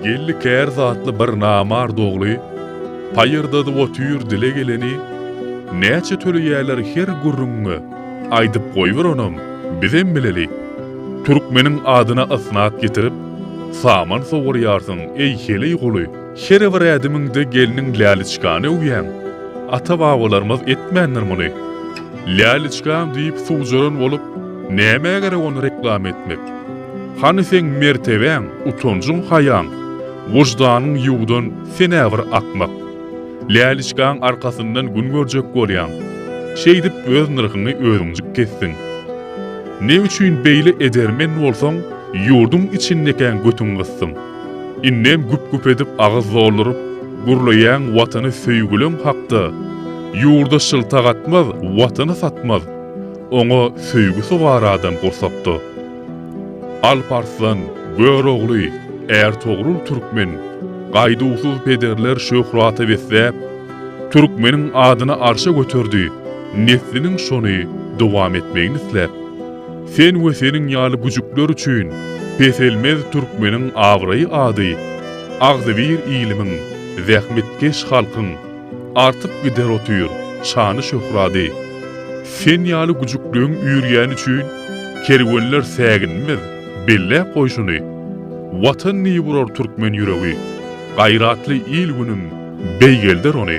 Geldi kär zatly bir namard ogly, Paýyrdadyp otyr dile geleni, Näçe töleýärler her gürrüňiňe, Aýdyp goýber onam, bizem bileli. Türkmeniň adyna ysnat getirip, Saman sowurýarsyň, eý heleý guly. Her bir ädimiňde gelniň Läliçkany öwýäň. Ata-babalarymyz etmändir muny. Läliçkam diýip suwjaran bolup, nämä gerek ony reklama etmek? Hany seň mertebäň, utanjyň-haýaň, wyždanyň ýuwdan sen-ä bir akmak. Läliçkaň arkasyndan gün görjek bolýaň. Şeýdip öz nyrhyňy özüňjik kesdiň. Ne üçin beýle edermen bolsaň, ýurduň içindekäň götüň gysdyň? Indem güp-güp edip agyz dolduryp gürleýäň watany söýgüleň hakda, ýurda şyltak atmaz, watany satmaz, oňa söýgi sogar adam gursakda. Alp Arslan, Görogly, Ärtogrul Türkmen, gaýduwsyz pederler şöhrata besläp, Türkmeniň adyny arşa göterdi, nesliniň şony dowam etmegini isläp. Sen we seniň ýaly güjükler üçin peselmez türkmeniň abraý-ady, agzybir ilimiň, zähmetkeş halkyň artyp gider otyr şany-şöhrady. Sen ýaly güjükleň üýrýäni üçin kerwenler säginmez, belläp goý şuny, Watan diýip urar türkmen ýüregi, gaýratly il günüm beýgelder ony.